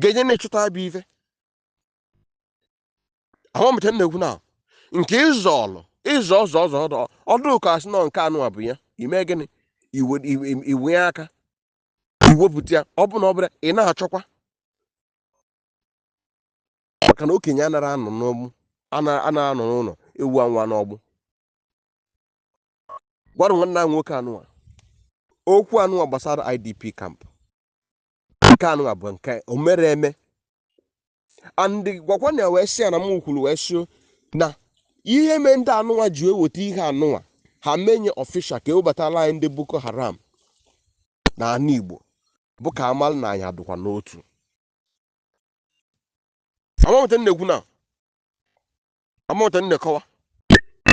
ga-enye na-echụta abụ ife ama m ị nweta na-ekwu na nke ịzọ ọlụ ịzọ ọzọ ọzọ ọ dụ ọ dụ ka asị na nke anụwa bụ ya ime gịnị iwe aka iwepụta ya ọ bụ na ọ bụla ị na-achọkwa maka na okenye anara anọ n'ọgbụ anara anọ n'ụnọ ewu amụa n'ọgbụ gwara nwanne m nwoke anụwa okwu anụwa gbasara idp camp nke anụnwa bụ nke o mere eme and gwakwa nya wee sị ya na m kwuru wee sị na ihe mee ndị anụnwa ji eweta ihe anụnwa ha menye official ka ewebatala anyị ndị boko haram na ana igbo bụ ka amalụ na anyị adụkwa n'otu ama m ị nweta na-ekwu na ama m ị nweta na-akọwa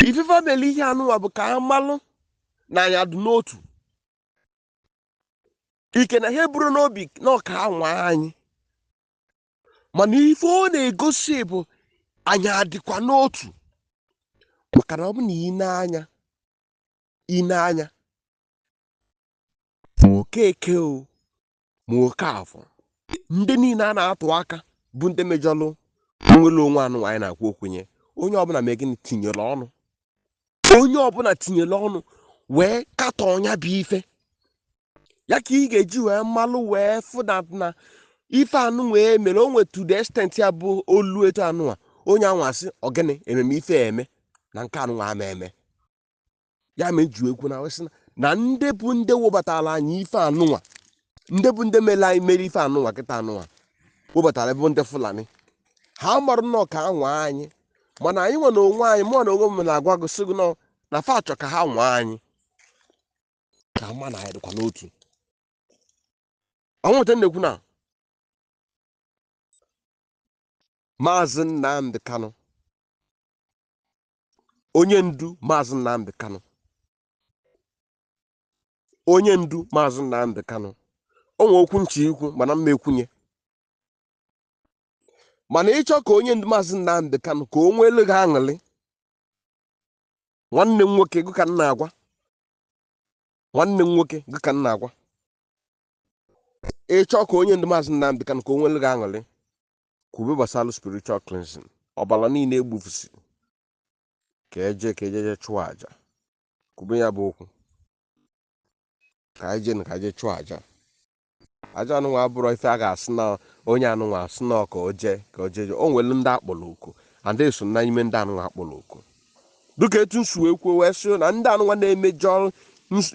ife fa mere ihe anụnwa bụ ka amalụ na anyị adụ n'otu ike na ha eburu n'obi na ọ ka ha nwaa anyị mana ife ọ na-egosi bụ anyị adịkwa n'otu maka na ọ bụ na i nee anya i nee anya ma okeke o ma okafọ ndị niile a na-atụ aka bụ ndị mejọlụ nwere onwe anụnwa anyị na-ekwu okwu nya onye ọbụla mee gịnị tinyere ọnụ onye ọbụla tinyere ọnụ wee katọọ nya bụ ife ya ka ị ga-eji wee malụ wee fụ na na ife anụnwa mere o nwetu the extent ya bụ o luo etu anụwa onye anụwa sị ọ gịnị ememe ife a eme na nke anụwa ama eme ya ma eji ekwu na wee sị na ndị bụ ndị webatara anyị ife anụwa ndị bụ ndị mere anyị mere ife anụwa kịta anụwa webatara bụ ndị fulani ha marụ nnọọ ka ha nwaa anyị mana anyị nwa na onwe anyị mụwa na onwe m na-agwa gị sị gị nọ na fa chọ ka ha nwaa anyị ka ama na anyị dịkwa n'otu ọnwụ nweta na-ekwu na maazị Nnamdi Kanu onye ndu maazị Nnamdi Kanu onye ndu maazị Nnamdi Kanu o nwee okwu m chọ ikwu mana m ma ekwu nya mana ị chọọ ka onye ndu maazị Nnamdi Kanu ka o nweelu gị aṅụrị nwanne m nwoke gị ka m na-agwa nwanne m nwoke gị ka m na-agwa ị chọọ ka onye ndu maazị Nnamdi Kanu ka o nwere gị aṅụrị kwube gbasara spiritual cleansing ọbara niile egbufusi ka eje ka ejeje chụọ aja kwube ya bụ okwu ka anyị jee na ka anyị jee chụọ aja aja anụnwa abụrọ ife a ga-asị na onye anụnwa asị na ka o jee ka o jee o nwere ndị akpọrọ oku and eso na ime ndị anụnwa akpọrọ oku dịka etu m si wee kwuo wee sị na ndị anụnwa na-emejọ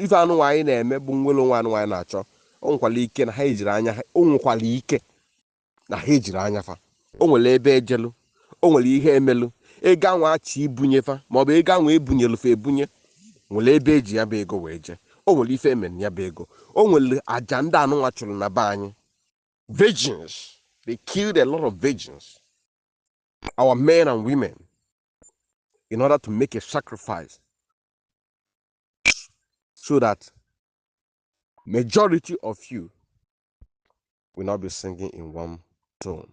ife anụnwa anyị na-eme bụ nwere onwe anụnwa anyị na-achọ o nwekwara ike na ha ejiri anya ha o nwekwara ike na ha ejiri anya fa o nwere ebe ejelu o nwere ihe emelu ego anwa achọ ibunye fa maọbụ ego anwa ebunyelu fa ebunye nwere ebe eji ya bụ ego wee jee o nwere ife emelu ya bụ ego o nwere aja ndị anụnwa chụlụ na be anyị virgins they killed a lot of virgins our men and women in order to make a sacrifice so that majority of you will not be singing in one tone.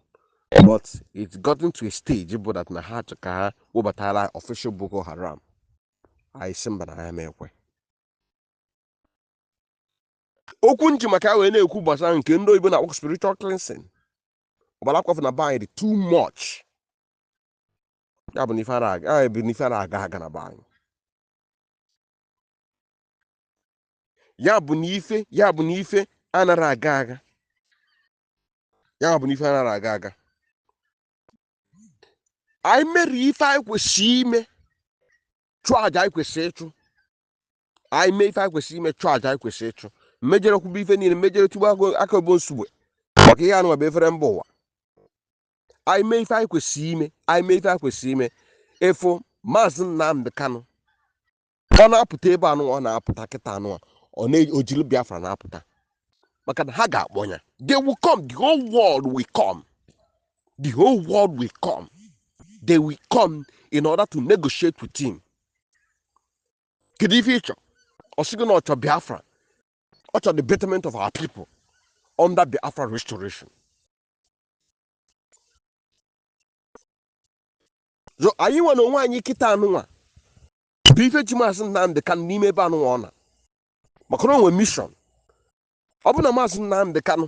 But it's gotten to a stage bụ that na ha chọ ka ha webatara official Boko Haram. Anyị sị mba na ha emekwe. Okwu nji maka ya wee na-ekwu gbasara nke ndị oyibo na-akpọ spiritual cleansing. Ọbara akwafu na be anyị dị too much. Ya bụ na ife ara aga ya bụ na ife ara aga aga na be anyị. ya bụ na ife ya bụ na ife anarọ aga aga ya bụ na ife anarọ aga aga anyị mere ife anyị kwesịrị ime chụọ aja anyị kwesịrị ịchụ anyị mee ife anyị kwesịrị ime chụọ aja anyị kwesịrị ịchụ mejere kwube ife niile mejere tugbu aka ọ bụ nsogbu maka ihe anụnwa bụ efere mba ụwa anyị mee ife anyị kwesịrị ime anyị mee ife anyị kwesịrị ime ịfụ maazị Nnamdi Kanu ka ọ na-apụta ebe anụ ọ na-apụta kịta anụnwa o jiri biafra na-apụta maka na ha ga-akpọ ya they will come the whole world will come the whole world will come they will come in order to negotiate with him kedu ife ị chọ ọ sịgo na ọ chọ biafra ọ chọ the betterment of our people under biafra restoration so anyị nwa na onwe anyị kịta anụnwa bụ ife ji maazị Nnamdị Kanụ n'ime ebe anụnwa ọ nọ maka na o nwe mission ọ bụ na maazị Nnamdị Kanụ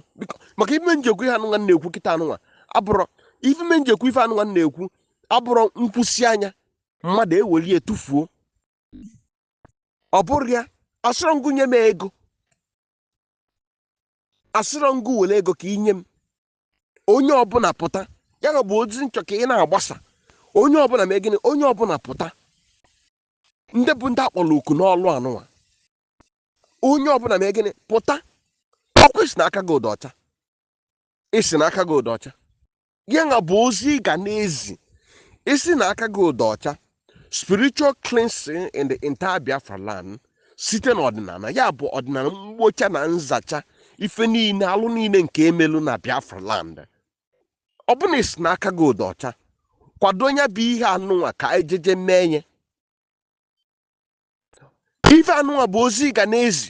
maka ife nji ekwu ihe anụnwa na-ekwu kịta anụnwa abụrọ ife nji ekwu ife anụnwa na-ekwu abụrọ nkwusịa nya mmadụ eweli etufuo ọ bụrọ ya asịrọ m gị nye m ego asịrọ m gị were ego ka inye m onye ọbụla pụta ya nwa bụ ozi nchọ ka ị na-agbasa onye ọbụla mee gịnị onye ọbụla pụta ndị bụ ndị akpọrọ oku n'ọlụ anụnwa onye ọbụla mee gịnị pụta ọkwa ị sị na aka gị dị ọcha ị sị na aka gị dị ọcha ya nwa bụ ozi ị ga na-ezi ị sị na aka gị dị ọcha spiritual cleansing in the entire biafra land site na ọdịnala ya bụ ọdịnala mgbocha na nzacha ife niile alụ niile nke emelu na biafra land ọ bụ na ị sị na aka gị dị ọcha kwado ya bụ ihe anụnwa ka anyị jeje mee ya ife anụnwa bụ ozi ị ga na-ezi